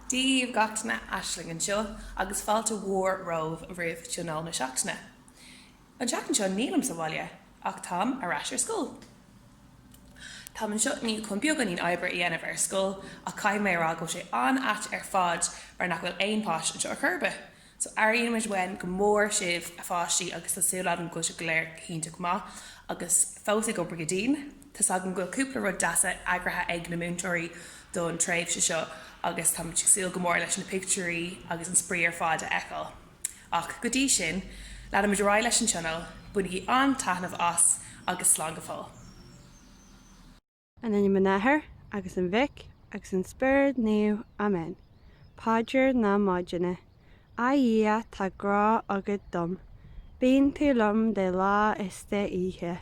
Dia dhaoibh gach duine, Aisling anseo agus fáilte mhór romhaibh roimh Tionól na Seachtaine. An tseachtain seo nílim sa bhaile ach táim ar ais ar scoil. Táim anseo inniu chun beagáinín oibre a dhéanamh ar scoil ach caithfidh mé a rá go bhfuil sé an-ait ar fad mar nach bhfuil aon pháiste anseo ar chor ar bith. So airímid uainn go mór sibh a pháistí agus tá súil agam go bhfuil sibh go léir go hiontach maith agus fós ag obair go dian. Tá's agam go bhfuil cúpla rud deas eagraithe ag na múinteoirí don tréimhse seo agus táimid ag súil go mór leis na pictiúir agus an spraoi ar fad a fheiceáil. Ach go dtí sin, leanfaimid ar aghaidh leis an tionól, bainigí an-taitneamh as agus slán go fóill. In ainm an Athar agus an Mhic agus an Spiorad Naomh. Amen. Paidir na Maidine. A Dhia, tá grá agat dom. Bíonn tú liom de lá is de oíche.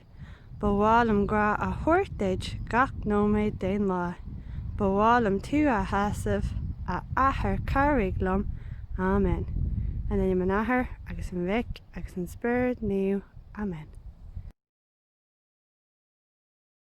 Ba mhaith liom grá a thabhairt duit gach nóiméad den lá. Ba mhaith liom tú a shásamh, a Athair cabhraigh liom. Amen. In ainm an Athar agus an Mhic agus an Spiorad Naomh. Amen.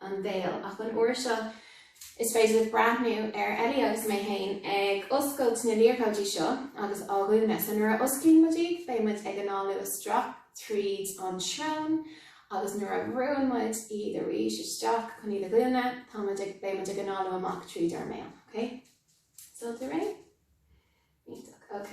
an mbéal, ach an uair seo is féidir breathnú ar Ellie agus mé féin ag oscailt na liathróidí seo agus á dhúnadh. So nuair a osclaíonn muid iad, beidh muid ag análú isteach tríd an srón agus nuair a bhrúnn muid iad arís isteach chun iad a dhúnadh, tá muid ag, beidh muid ag análú amach tríd ár mbéal. Ok? An bhfuil sibh réidh? Iontach. Ok.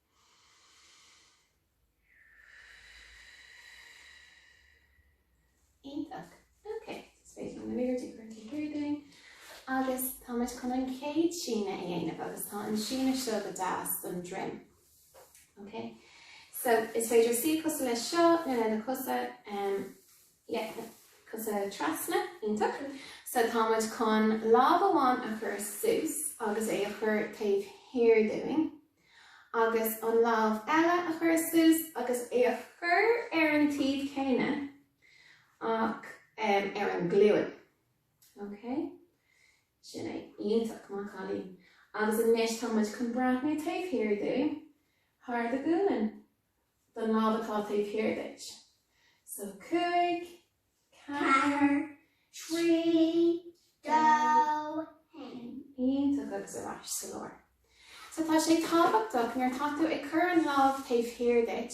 Iontach. Ok, is féidir linn na liathróidí a chur taobh thiar dúinn. Agus tá muid chun an chéad síneadh a dhéanamh agus tá an síneadh seo go deas don droim. Ok? So is féidir suí cosúil le seo nó le na cosa um, yeah, cosa trasna iontach. So tá muid chun lámh amháin a chur suas agus é a chur taobh thiar dúinn. agus an lámh eile a chur suas agus é a chur ar an taobh céanna ach ar an ghlúin. Ok? Sin é. Iontach, maith an cailín. Agus anois tá muid chun breathnú taobh thiar dú, thar do ghualainn, don lámh atá taobh thiar duit. So, cúig, ceathair, trí, dó, haon. Iontach agus ar ais sa lár. So tá sé tábhachtach nuair atá tú ag cur an lámh taobh thiar duit,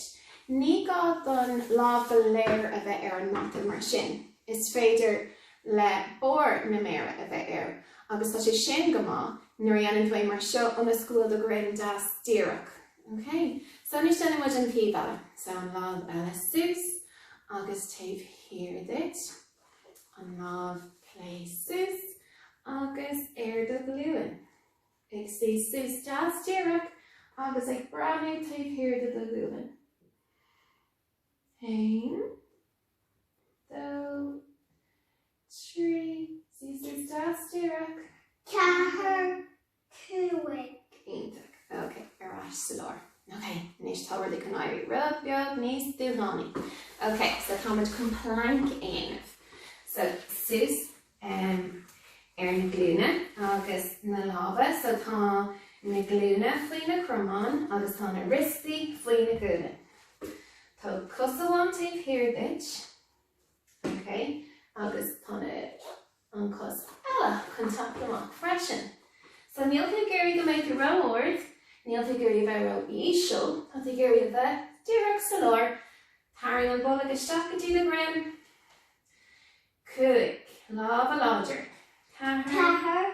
ní gá don lámh go léir a bheith ar an mata mar sin is féidir le barr na méara a bheith air agus tá sé sin go maith nuair a dhéanann tú é mar seo ionas go bhfuil do dhroim deas díreach. Ok, so anois déanfaidh muid an taobh eile. So an lámh eile suas agus taobh thiar duit. An lámh clé suas agus ar do ghlúin. Ag suí suas deas díreach agus ag breathnú taobh thiar de do ghualainn. Haon, dó, trí, suí suas deas díreach. Ceathair. Cúig. Iontach. Ok, ar ais sa lár. Ok, anois tá rudaí ag éirí rud beag níos dúshlánaí. Ok, so tá muid chun plank a dhéanamh. So, suas ar na glúine agus na lámha. So tá na glúine faoi na cromáin agus tá na rostaí faoi na guaillí. Tóg cos amháin taobh thiar duit. Ok, agus tá na an cos eile chun teacht amach freisin. So níl tú ag iarraidh go mbeidh tú ró-ard, níl tú ag iarraidh a bheith ró-íseal, tá tú ag iarraidh a bheith díreach sa lár, tarraing an bolg isteach go dtí do dhroim, cúig, lámha láidir, ceathair,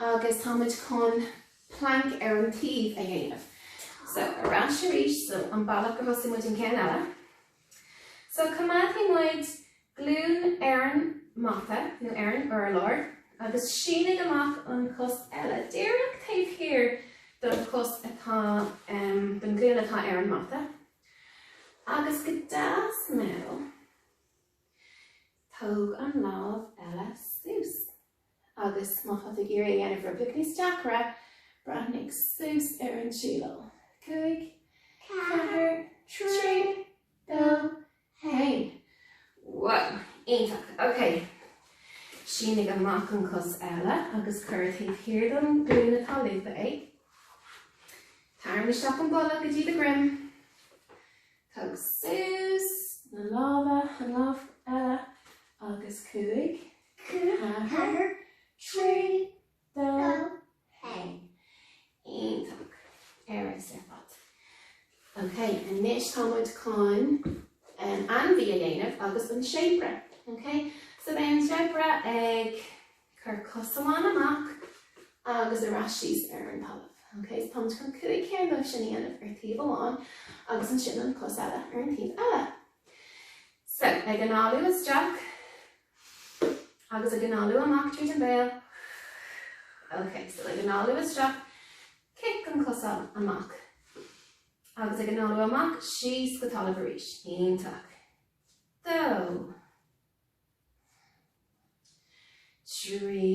agus tá muid chun planc ar an taobh a dhéanamh so ar ais arís so an bealach gur thosaigh muid an ceann eile so coimeádfaidh muid glún ar an mata nó ar an urlár agus sínigh amach an cos eile díreach taobh thiar don cos atá um, don glún atá ar an mata agus go deas mall tóg an lámh eile suas agus má tá tú ag iarraidh é a dhéanamh rud beag níos deacra, breathnaigh suas ar an tsíleáil. 5, 4, 3, 2, 1. Wow! Iontach! Ok. Sínigh amach an cos eile agus cuir é taobh thiar den ghlúin atá lúbtha ag. Tarraing isteach an bolg go dtí do dhroim. Tóg suas na lámha, an lámh eile, agus 5, ceathair, trí, dó, haon, iontach, ar fad. Ok, anois tá muid chun ainmhí a dhéanamh agus is an séabra. Ok, so beidh an séabra ag cur cos amháin amach agus ar ais síos ar an talamh. Ok, so tá muid chun cúig cinn díobh sin a dhéanamh ar thaobh amháin agus ansin an cos eile ar an taobh eile. So, ag análú isteach agus ag análú amach tríd an béal ok so ag análú isteach cic an chos amach agus ag análú amach síos go talamh arís iontach dó trí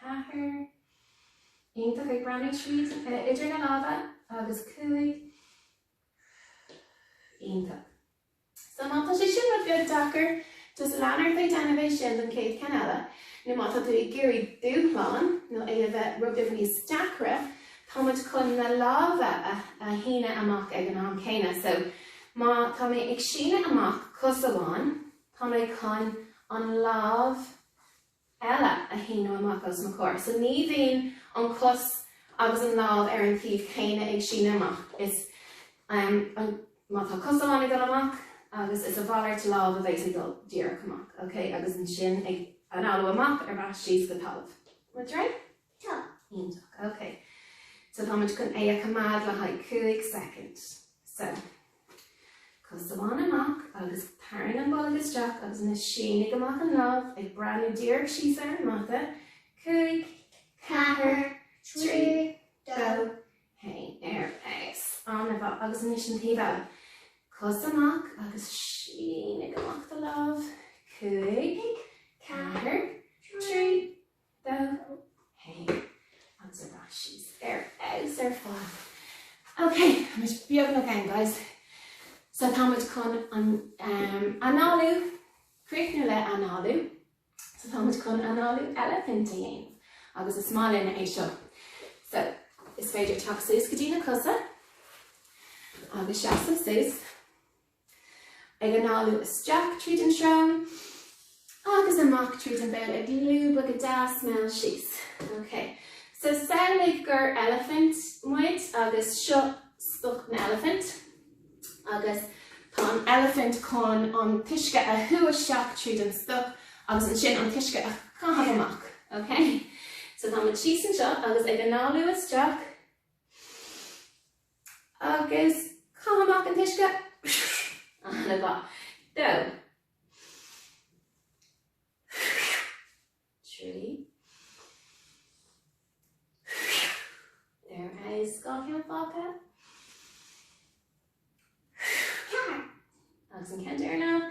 Ceathair iontach ag breathnú díreach idir na lámha agus cúig iontach. So má tá sé sin rud beag deacair, just lean ort ag déanamh é sin don chéad ceann eile, nó má tá tú ag iarraidh dúshlán nó é a bheith rud beag níos deacra, tá muid chun na lámha a shíneadh amach ag an am céanna. So má tá mé ag síneadh amach cos amháin, Tá mé chun an lámh eile a shíneadh amach os mo chomhair. So ní bhíonn an chos agus an lámh ar an taobh céanna ag síneadh amach. Is um an, má tá cos amháin ag dul amach agus is a mhalairt lámh a bheas ag dul díreach amach, okay? Agus ansin ag análú amach ar ais síos go talamh. Muid réidh? Yeah, iontach, ok. So táimid chun é a choimeád le haghaidh cúig soicind. So, cos amháin amach agus tarraing an bolg isteach agus ansin sínigh amach an lámh ag breathnú díreach síos ar an mata. Cúig, ceathair, trí, dó, haon, ar ais ar an mata agus anois an taobh eile. Cos amach agus sínigh amach do lámh. Cúig, ceathair, trí, Dó, haon agus ar ais síos ar fheabhas ar fad. Ok, muid beagnach ann guys. So tá muid chun an um, análú críochnú le análú, so tá muid chun análú eilifint a dhéanamh agus is maith linn é seo. So is féidir teacht suas go dtí na cosa agus seasamh suas. ag análú isteach tríd an srón agus amach tríd an béal ag lúbadh go deas mall síos. Ok. So samhlaigh gur eilifint muid agus seo stoc na heilifinte agus tá an eilifint chun an t-uisce a shú isteach tríd an stoc agus ansin an t-uisce a chaitheamh amach. Ok. So tá muid síos anseo agus ag análú isteach. Agus caith amach an t-uisce. Ana mhaith. Dó. Trí. Níos dhá cheann fágtha. Ceathair. Agus an ceann deireanach.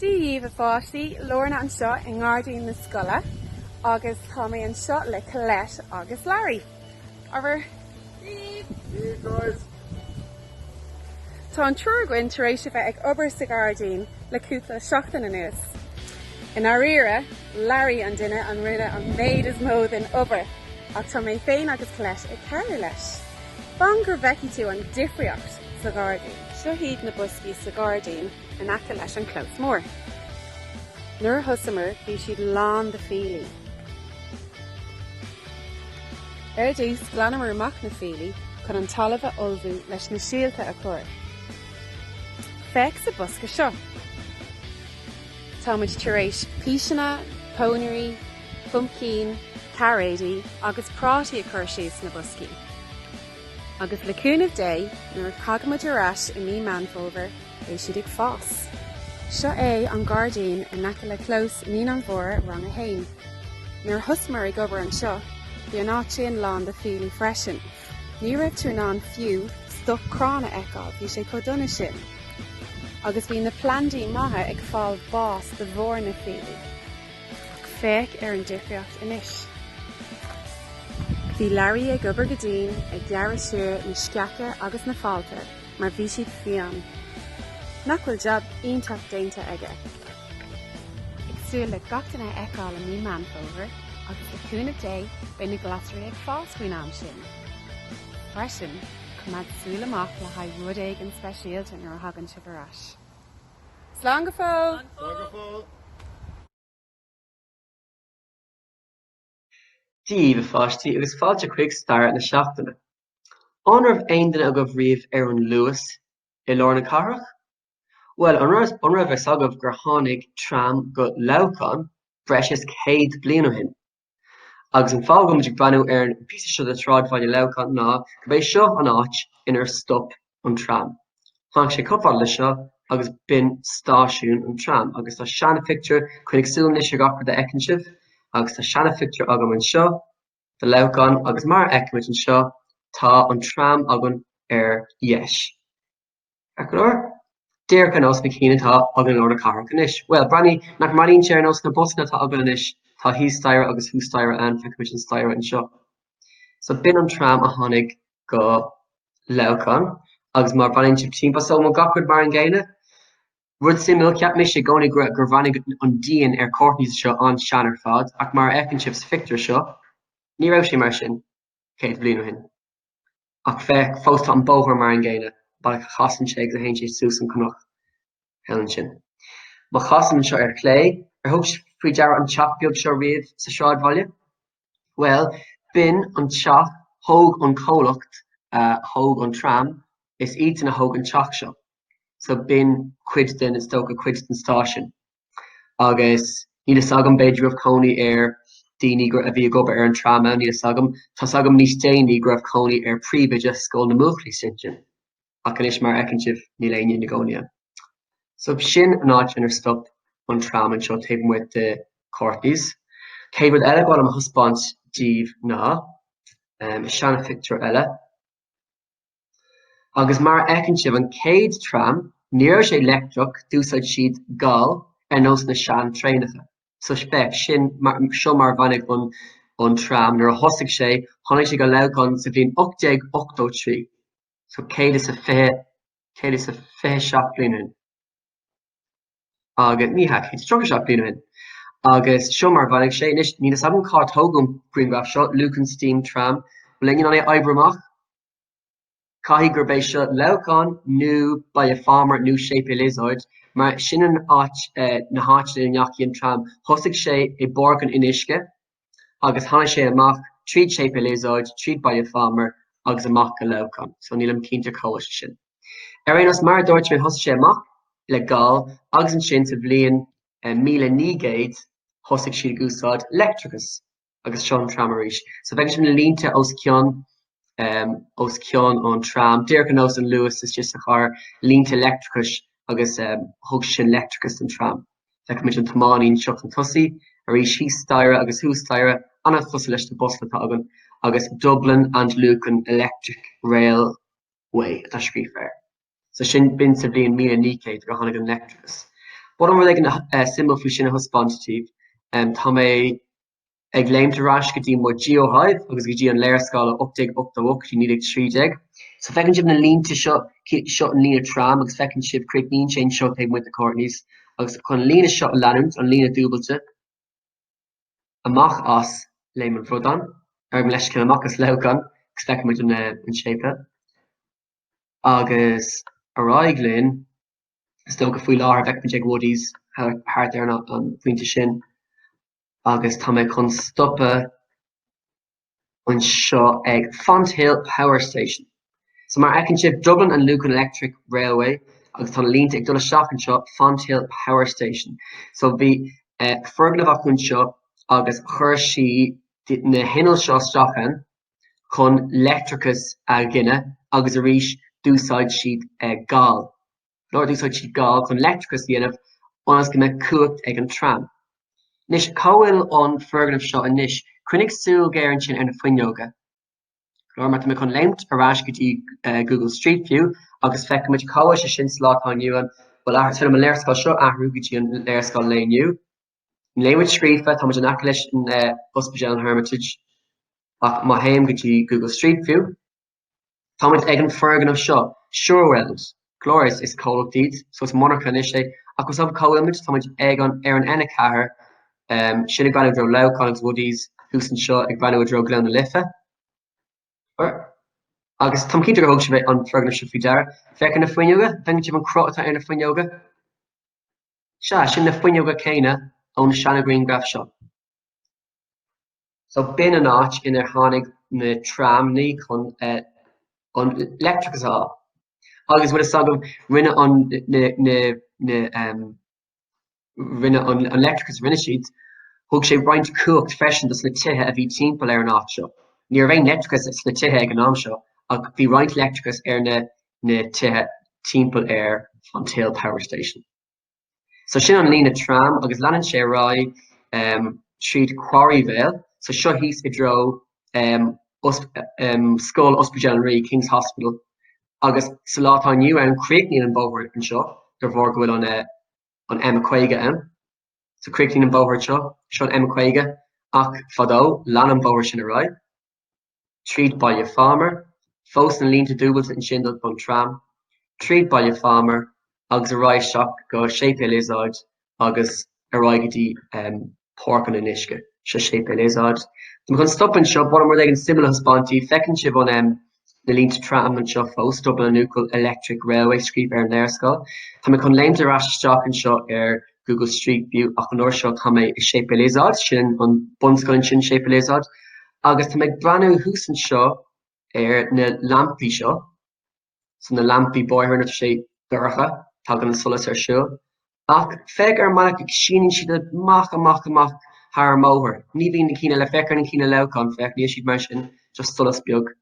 Dia dhíbh a pháistí, Lorna anseo i ngairdín na scoile agus tá mé anseo le Colette agus Larry. Ó, tá an triúr againn tar éis a bheith ag obair sa ghairdín le cúpla seachtain anuas. I ndáiríre, Larry an duine a rinne an méid is mó den obair ach tá mé féin agus Colette ag cabhrú leis. Fan go bhfeicfidh tú an difríocht! sa ghairdín. Seo iad na boscaí sa ghairdín in aice leis an clós mór. Nuair a thosamar bhí siad lán de fiailí. Ar dtús glanamar amach na fiailí chun an talamh a ullmhú leis na síolta a chur. Féach sa bhosca seo. Táimid tar éis píseanna, pónairí, puimcín, cairéidí agus prátaí a chur síos sna boscaí. Agus le cúnamh Dé, nuair a thagaimid ar ais i mí Meán Fómhair, beidh siad ag fás. Seo é an gairdín in aice le clós Naíonáin Mhóra, Rang 1. Nuair a thosamar ag obair anseo, bhí an áit sin lán de fiailí freisin. Ní raibh tú in ann fiú stoc crann a fheiceáil, bhí sé chomh dona sin. Agus bhí na plandaí maithe ag fáil bás de bharr na fiailí. Ach féach ar an difríocht anois. Bhí Larry ag obair go dian ag gearradh siar na sceacha agus na fálta mar bhí siad fiáin. Nach bhfuil jab iontach déanta aige? Ag súil le gach duine a fheiceáil i mí Meán Fómhair agus le cúnamh Dé beidh na glasraí ag fás faoin am sin. Freisin, coimeád súil amach le haghaidh rud éigin speisialta nuair a thagann sibh ar ais. Slán go fóill! Dia daoibh, a pháistí, agus fáilte chuig Stair na Seachtaine. An raibh aon duine agaibh riamh ar an Luas i lár na cathrach? Bhuel, an raibh a fhios agaibh gur tháinig tram go Leamhcán breis is céad bliain ó shin? Agus an fáth go bhfuil muid ag breathnú ar an píosa seo de sráidbhaile Leamhcán ná gurb é seo an áit inar stop an tram. Tháinig sé chomh fada le seo agus b'in stáisiún an tram agus tá seanphictiúr, coinnigh súil anois ar gach rud a fheiceann sibh, agus tá seanphictiúr agam anseo de Leamhcán agus mar a fheicimid anseo tá an tram againn ar dheis. Ar chlár? Díreach ar nós na cinn atá againn i lár na cathrach anois. Bhuel, breathnaigh, nach mbreathnaíonn sé ar nós na mbusanna atá againn anois, tá thíos staighre agus thuas staighre ann, feicimid an staighre anseo. So b'in an tram a tháinig go Leamhcán agus má bhreathnaíonn sibh timpeall, so bhfuil gach rud mar an gcéanna? Rud suimiúil, cheap mise i gcónaí gur gur bhreathnaigh an díon ar Courtney's seo an-sean ar fad, ach mar a fheiceann sibh sa phictiúr seo, ní raibh sé mar sin céad bliain ó shin. Ach féach, fós tá an bóthar mar an gcéanna, bealach a chasann sé agus a théann sé suas an cnoc eile ansin. Má chasaim anseo ar chlé, ar thug sibh faoi deara an teach beag seo riamh sa sráidbhaile? Bhuel, b'in an teach thóg an comhlacht a thóg an tram, is iadsan a thóg an teach seo. So b'in cuid den, is dócha, cuid den stáisiún. agus níl fhios agam, b'fhéidir go raibh cónaí ar daoine a bhí ag obair ar an tram ann, níl fhios agam. Tá fhios agam níos déanaí go raibh cónaí ar príomhoide Scoil na mBuachaillí istigh ann, ach anois, mar a fheiceann sibh, níl éinne ina gcónaí ann. So b'shin an áit inar stop an tram anseo taobh amuigh de Courtney's. Céad rud eile go bhfuil orm a thaispeáint daoibh ná seanphictiúr eile. Agus mar a fheiceann sibh an chéad tram, ní raibh sé leictreach, d'úsáid siad gal ar nós na sean-traenacha. So féach, sin, seo mar a bhreathnaigh an, an tram, nuair a thosaigh sé, tháinig sé go Leamhcán sa bhliain 1883, so 120, 127 bliain ó shin, agus, ní hea, 137 bliain ó shin, agus seo mar a bhreathnaigh sé. Anois, níl 'fhios a'm cár tógadh an grianghraf seo, Lucan Steam Tram, bhuel, ag an am é a oibriú amach, Caithfidh gurb é seo Leamhcán nó Baile Phámar nó Séipéal Iosóid, mar sin an áit, na háiteanna ina ndeachaigh an tram. Thosaigh sé i bPáirc an Fhionnuisce agus tháinig sé amach tríd Séipéal Iosóid, tríd Baile Phámar agus amach go Leamhcán. So nílim cinnte cá bhfuil sé sin. Ar aon nós, mar a dúirt mé, thosaigh sé amach le gal agus ansin sa bhliain 1900 thosaigh siad ag úsáid leictreachas. agus seo an tram arís. So feiceann sibh na línte os cionn um, os cionn an tram. Díreach ar nós an Luas istigh sa chathair, línte leictreachais agus um, thug sin leictreachas don tram. Feicimid an tiománaí anseo chun tosaigh, arís thíos staighre agus thuas staighre ann, an-chosúil leis na busanna atá againn agus Dublin and Lucan Electric Railway atá scríofa air. So sin, b'in sa bhliain 1900 gur tháinig an leictreachas. B'fhéidir rud éigin suimiúil faoi sin a thaispeáint daoibh. Tá mé ag léimt ar ais go dtí mo GeoHive agus go dtí an léarscáil ó 1888 go dtí 1913. So feiceann sibh na línte seo, seo an líne tram agus feiceann sibh críochnaíonn sé anseo taobh amuigh de Courtney's agus chun an líne seo a leanúint, an líne dúbailte, amach as Léim an Bhradáin, gabh mo leithscéal, amach as Leamhcán agus feiceann muid an séipe. Agus ar aghaidh linn, is dócha, faoi láthair bheimis ag Woodies thart ar an phointe sin agus tá mé chun stopadh anseo ag Fonthill Power Station. So mar a fheiceann sibh, Dublin and Lucan Electric Railway agus tá na línte ag dul isteach anseo, Fonthill Power Station. So bhí foirgneamh acu anseo agus chuir siad na hinnill seo isteach ann chun leictreachas a ghineadh agus arís d'úsáid siad gal, or d'úsáid siad gal chun leictreachas a dhéanamh ionas go mbeadh cumhacht ag an tram. Anois, cá bhfuil an foirgneamh seo anois? Coinnigh súil ghéar ansin ar na fuinneoga. Go leor mar tá mé chun léimt ar ais go dtí Google Street View agus feicimid cá bhfuil sé sin sa lá atá inniu ann. Bhuel, athraigh, tar liom an léarscáil seo a athrú go dtí an léarscáil lae inniu. Hermitage scríofa, táimid in aice leis an Ospidéal an Hermitage, ach má théim go dtí Google Street View, táimid ag an foirgneamh seo, Sure Weld, go leor is comhlacht díot, so is monarcha anois é, ach más maith cá bhfuil muid, táimid ag an, ar an N4, sin ag breathnú i dtreo Leamhcáin agus Woodies, thuas anseo ag breathnú i dtreo Gleann na Life. Or. Agus táim cinnte gur thóg sibh an foirgneamh seo faoi deara. Féach ar na fuinneoga, feiceann sibh an cruth atá ar na fuinneoga. Sea, sin na fuinneoga céanna ón seanghrianghraf seo. So b'in an áit inar tháinig na tramanna chun an leictreachas a fháil. Agus bhfuil a fhios agaibh, rinne an rinne an leictreachas a rinne siad, thug sé roinnt cumhacht freisin dos na tithe a bhí timpeall ar an áit seo. Ní raibh aon leictreachas sna tithe ag an am seo ach bhí roinnt leictreachas ar na na tithe timpeall ar Fonthill Power Station. So sin an líne tram agus leanann sé ar aghaidh um, tríd Quarryvale, so seo thíos i dtreo um, os, um, Scoil Ospidéal an Rí, King's Hospital, agus sa lá atá inniu ann críochnaíonn an bóthar anseo de bharr go bhfuil an, uh, an M50 ann. So críochnaíonn an bóthar seo, seo an M50 ach fadó lean an bóthar sin ar aghaidh. tríd Baile Phámar, fós na línte dúbailte ansin do an tram, tríd Baile Phámar agus ar aghaidh isteach go Séipéal Iosóid agus ar aghaidh go dtí Páirc an Fhionnuisce. Seo Séipéal Iosóid. Tá mé chun stopadh anseo, ba mhaith liom rud éigin suimiúil a thaispeáint daoibh, feiceann sibh an um, na línte tram anseo fós, Dublin and Lucan Electric Railway scríofa ar an léarscáil. Tá mé chun léimt ar ais isteach anseo ar Google Street View ach an uair seo tá mé i Séipéal Iosóid, sin an bunscoil ansin, Séipéal Iosóid, agus tá mé ag breathnú thuas anseo ar na lampaí seo, so na lampaí bóthair nuair atá sé dorcha, tagann an solas ar siúl, ach féach ar an mbealach a síneann siad amach, amach, amach thar an mbóthar, ní bhíonn na cinn eile, féach ar na cinn i Leamhcán, féach, níl siad mar sin, just solas beag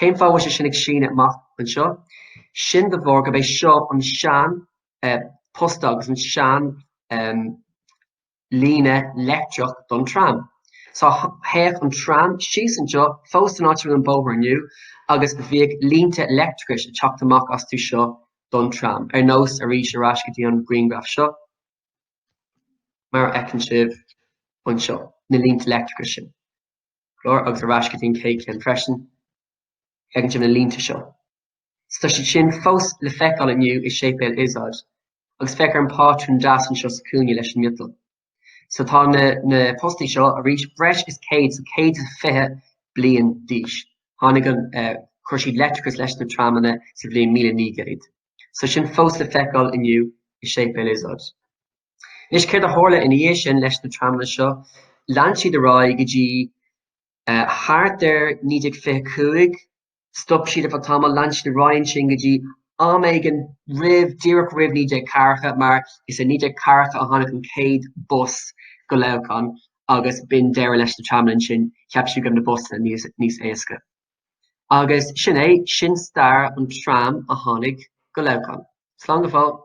Cén fáth a bhfuil sé sin ag síneadh amach anseo? Sin de bharr gurb é seo an sean posta agus an sean líne leictreach don tram. Só théadh an tram síos anseo fós san áit a bhfuil an bóthar inniu agus bhíodh línte leictreachais ag teacht amach astu seo don tram, ar nós, arís ar ais go dtí an grianghraf seo, mar a fheiceann sibh anseo, na línte leictreachais sin. cláir agus ar ais go dtí an chéad cheann freisin ag an taobh, na línte seo. Tá siad sin fós le feiceáil inniu i Séipéal Izod agus féach ar an pátrún deas anseo sa chuaille leis an miotal. So tá na na postaí seo arís breis is 100 so 120 bliain d'aois. Tháinig an eh, chuir siad leictreachas leis na tramanna sa bhliain 1900. So sin fós le feiceáil inniu i Séipéal Izod. Anois, céard a tharla ina dhiaidh sin leis na tramanna seo? Lean siad ar aghaidh go dtí thart ar 1925, stop siad ar feadh tamaill, lean siad ar aghaidh ansin go dtí am éigin roimh, díreach roimh 1940, mar is i 1940 a tháinig an chéad bus go Leamhcán agus b'in deireadh leis na tramanna ansin, cheap siad go raibh na busanna níos éasca. Agus sin é, sin stair an tram a tháinig go Leamhcán. Slán go fóill!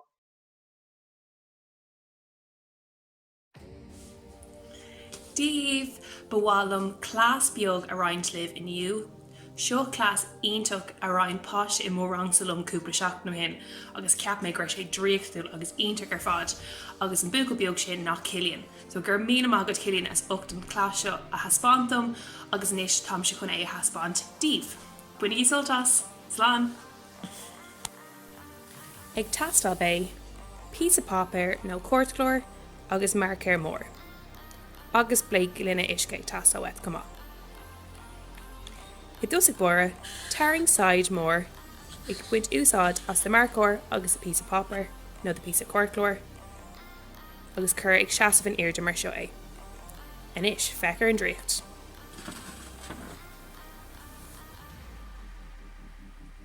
daoibh! Ba mhaith liom cleas beag a roinnt libh inniu. Seo cleas iontach a roinn páiste i mo rangsa liom cúpla seachtain ó shin agus cheap mé go raibh sé draíochtúil agus iontach ar fad agus an buachaill beag sin ná Cillian. So, go raibh míle maith agat Cillian as ucht an cleas seo a thaispeáint dom agus anois táimse chun é a thaispeáint daoibh. Bainigí sult as! Slán! ag teastáil beidh píosa páipéir nó cairtchlár agus marcóir mór agus beidh gloine uisce ag teastáil uait chomh maith. I dtosach báire tarraing saighead mór ag baint úsáid as do marcóir agus do píosa páipéir nó do píosa cairtchlár agus cuir ag seasamh in airde mar seo é. Anois féach ar an draíocht!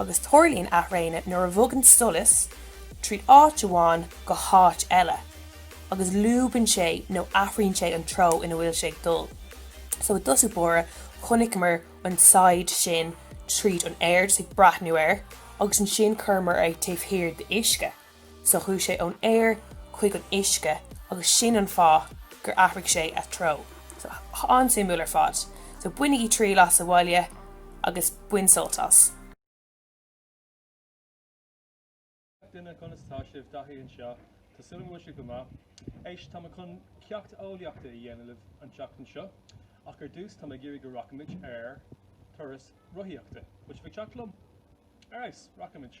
Agus tarlaíonn athraonadh nuair a bhogann solas tríd áit amháin go háit eile, agus lúbann sé nó athraíonn sé an treo ina bhfuil sé ag dul. So i dtosach báire, chonaiceamar an saighead sin tríd an aer, just ag breathnú air, agus ansin chuireamar é taobh thiar d'uisce. So chuaigh sé ón aer chuig an uisce agus sin an fáth gur athraigh sé a threo. So an-suimiúil ar fad. So bainigí triail as sa bhaile agus bain sult as. G'day gach duine, conas tá sibh? Daithí anseo. Tá súil agam go bhfuil sibh go maith. Éist, tá mé chun ceacht eolaíochta a dhéanamh libh an tseachtain seo ach ar dtús tá mé ag iarraidh go rachaimid ar turas rothaíochta. Bhfuil sibh ag teacht liom? Alright, rachaimid.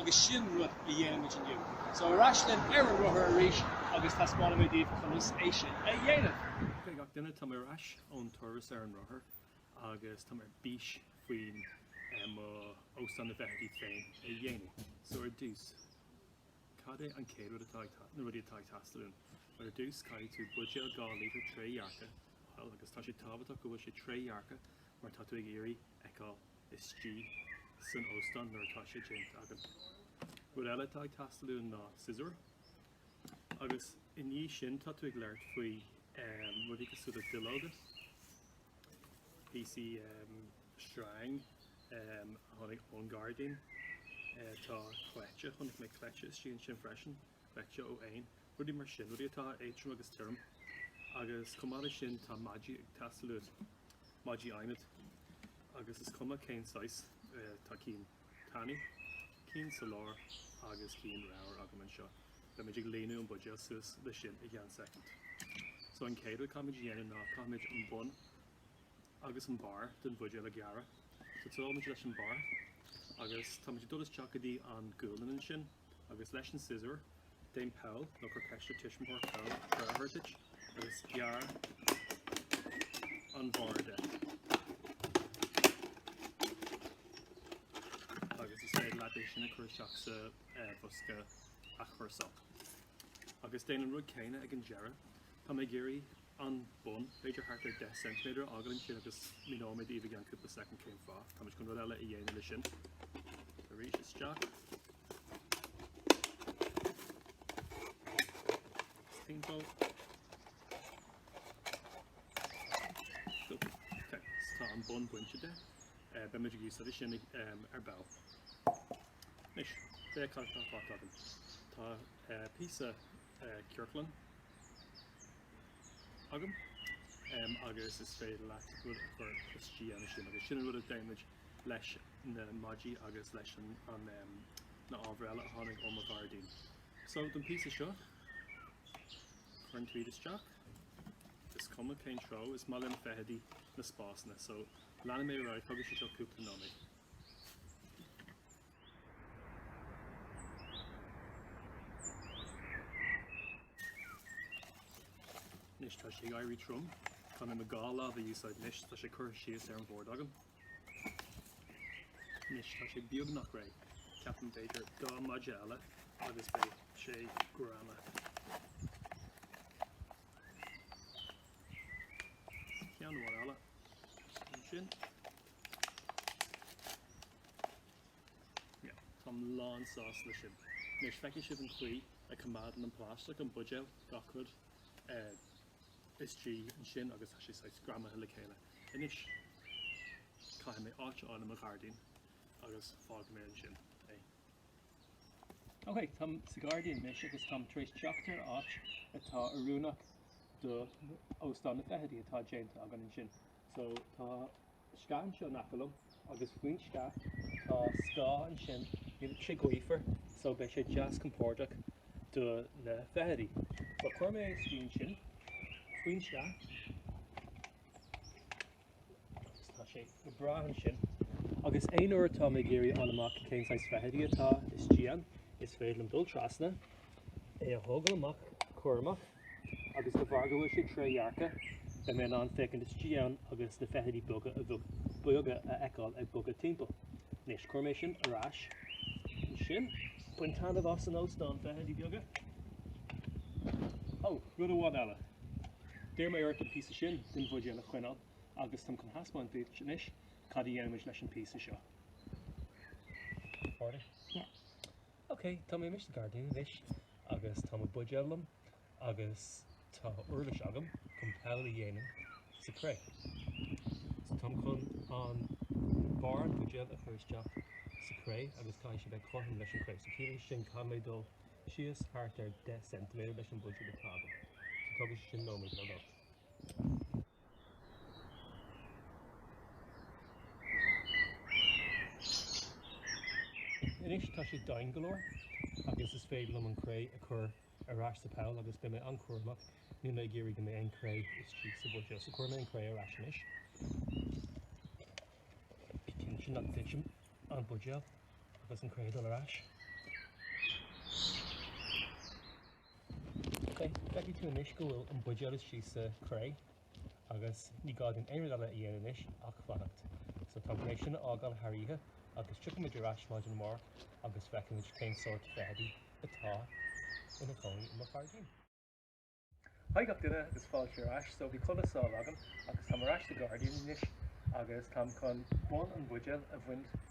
agus sin rud a dhéanfaimid inniu. So ar ais linn ar an rothar arís agus taispeánfaimid daoibh conas é sin a dhéanamh! G'day gach duine, tá mé ar ais ón turas ar an rothar agus tá mé ar bís faoin mo óstán na bhfeithidí féin a dhéanamh. So ar dtús, cad é an chéad rud atá ag, na rudaí atá ag teastáil uaim? Bhuel ar dtús caithfidh tú buidéal 2 líotar trédhearcach a fháil agus tá sé tábhachtach go bhfuil sé trédhearcach mar tá tú ag iarraidh fheiceáil istigh san óstán nuair atá sé déanta againn. Rud eile atá ag teastáil uainn ná siosúr agus i ndiaidh sin tá tú ag labhairt faoi rudaí cosúil le duilleoga, píosaí sreinge a tháinig ón gairdín, tá cleite, chonaic mé cleite istigh ansin freisin. You know, ó éin, rudaí mar sin, rudaí atá éadtrom agus tirim. Agus chomh maith leis sin tá maidí ag teastáil uait, maidí adhmaid. Agus is cuma cén saghas, tá cinn tanaí, cinn sa lár agus cinn ramhar agam anseo. Beimid ag líonadh an buidéal suas leis sin i gceann soicind. So an chéad rud a chaithfimid a dhéanamh ná caithfimid an bun agus an barr den bhuidéal a ghearradh. So tosóimid leis an barr agus tá muid ag dul isteach go dtí an gualainn ansin. agus leis an siosúr, déan poll, nó cuir ceist ar tuismitheoir poll, cabhair a thabhairt duit agus gearr an barr de. agus is féidir leat é sin a chuir isteach sa eh, bosca athchúrsála. Agus déan an rud céanna ag an deireadh. Tá mé ag iarraidh an bun, b'fhéidir thart ar 10 ceintiméadar a fhágáil ansin agus míneoidh mé daoibh i gceann cúpla soicind cén fáth. Táimid chun rud eile a dhéanamh leis sin. Arís isteach. Is timpeall. Stop. Ok, so tá an bun bainte de. Eh, beimid ag úsáid sin ag, em, ar ball. Anois, féach cad atá fágtha agam. Tá, eh, píosa, eh, ciorclach. agam agus is féidir leat rud a chur istigh ansin agus sin an rud a dhéanfaimid leis na maidí agus leis an na ábhair eile a tháinig ó mo ghairdín. So don píosa seo cuireann tú iad isteach is cuma cén treo is maith le na feithidí na spásanna so leanfaidh mé ar aghaidh tógann sé seo cúpla nóiméad. Anois tá sé ag éirí trom, caithfidh mé dhá lámh a úsáid anois tá sé curtha síos ar an mbord agam. Anois tá sé beagnach réidh, ceapaim b'fhéidir dhá mhaide eile agus beidh sé greamaithe. Ceann amháin eile. An sin Táim lánsásta leis sin. Anois feicfidh sibh an chaoi a coimeádann an plaisteach an bhuidéil gach rud istigh ansin agus tá sé saghas greamaithe le chéile. Anois caithfidh mé áit a fháil i mo ghairdín agus fágfaidh mé ansin é. Ok, táim sa ghairdín anois agus táim tar éis teacht ar áit atá oiriúnach d'óstán na feithidí atá déanta againn ansin. So tá sceach anseo in aice liom agus faoin sceach tá scáth ansin níl sé gaofar so beidh sé deas compordach do na feithidí. So cuirfidh mé isteach ansin faoin sceach agus tá sé go bráth ansin agus aon uair atá mé ag iarraidh fháil amach cén saghas feithidí atá istigh ann is féidir liom dul trasna é a thógáil amach, cúramach. agus de bharr go bhfuil sé trédhearcach, beidh mé in ann féachaint istigh ann agus na feithidí beaga bídeacha a fheiceáil ag bogadh timpeall. Anois, cuirfidh mé sin ar ais ansin. Bain taitneamh as an óstán, feithidí beaga! Ó, rud amháin eile. D'iarr mé ort an píosa sin den bhuidéal a choinneáil agus táim chun thaispeáint duit anois cad a dhéanfaimid leis an bpíosa seo. Ready? Yeah. Ok, tá mé amuigh sa ghairdín anois agus tá mo bhuidéal liom agus tá uirlis agam chun poll a dhéanamh sa chré. So táim chun an barr an bhuidéil a chur isteach sa chré agus caithfidh sé bheith cothrom leis an chré. So ciallaíonn sé sin caithfidh mé dul síos thart ar 10 cm leis an mbuidéal atá agam. So tógann sé sin nóiméad nó dhó. Anois tá sé domhain go leor agus is féidir liom an cré a chur ar ais sa pholl agus beidh mé an-chúramach, níl mé ag iarraidh go mbeidh aon chré istigh sa bhuidéal, so cuirfidh mé an cré ar ais anois. Bí cinnte nach dtiteann an buidéal agus an cré ag dul ar ais. Feicfidh tú anois go bhfuil an buidéal thíos sa chré agus ní gá dúinn aon rud eile a dhéanamh anois ach fanacht. So táim le sin a fhágáil thar oíche agus tiocfaidh muid ar ais maidin amárach agus feicfidh muid cén sórt feithidí atá ina gcónaí i mo ghairdín. Haigh gach duine agus fáilte ar ais. So bhí codladh sámh agam agus táim ar ais sa ghairdín anois agus táim chun barr an bhuidéil a bhaint.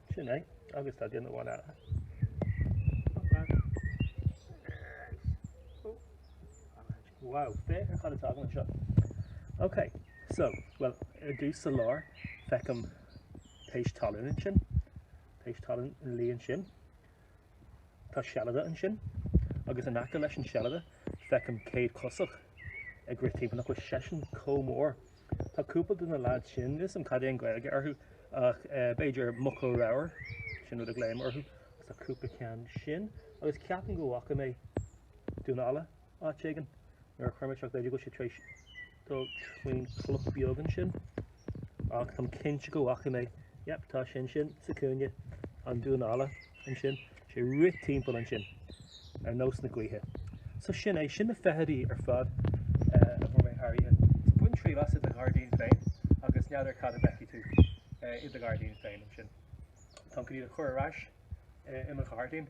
Sin é, agus tá duine amháin eile. Wow, féach ar cad atá agam anseo. Ok, so, well, ar dtús sa lár, feicim péist talún ansin, péist talún sa lár ansin. Tá seilide ansin, agus in aice leis an seilide feicim céadchosach ag rith timpeall, nach bhfuil seisean comh mór. Tá cúpla de na leaids sin, níl 'fhios a'm cad é an Ghaeilge orthu, ach b'fhéidir muca ramhar, sin rud a ghlaoim orthu, agus tá cúpla ceann sin, agus ceapaim go bhfaca mé damhán alla. Áit éigin nuair a chuir mé seo go bhfuil sé tar éis dul faoin chloch bheag ansin ach táim cinnte go bhfaca mé yep tá sin sin sa cúinne an damhán alla ansin sé rith timpeall ansin ar nós na gaoithe. So sin é sin na feithidí ar fad eh, a bhfuair mé thairithe. So bain triail as i do ghairdín féin agus n'fheadar cad a fheicfidh tú eh, i do ghairdín féin ansin. Tá go dtí a chur ar ais eh, i mo ghairdín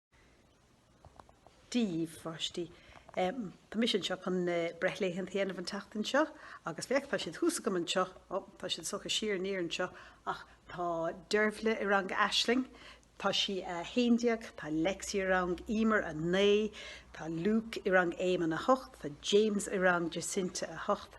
daoibh, a pháistí. Tá mise anseo chun breithlaethanta a dhéanamh an tseachtain seo agus féach, tá siad thuas agam anseo, ó, tá siad sáite siar aniar anseo, ach tá Dervla i rang Aisling, tá sí 11, tá Lexi i rang Emer 9, tá Luke i rang Éamonn 8, tá James i rang Jacinta 8,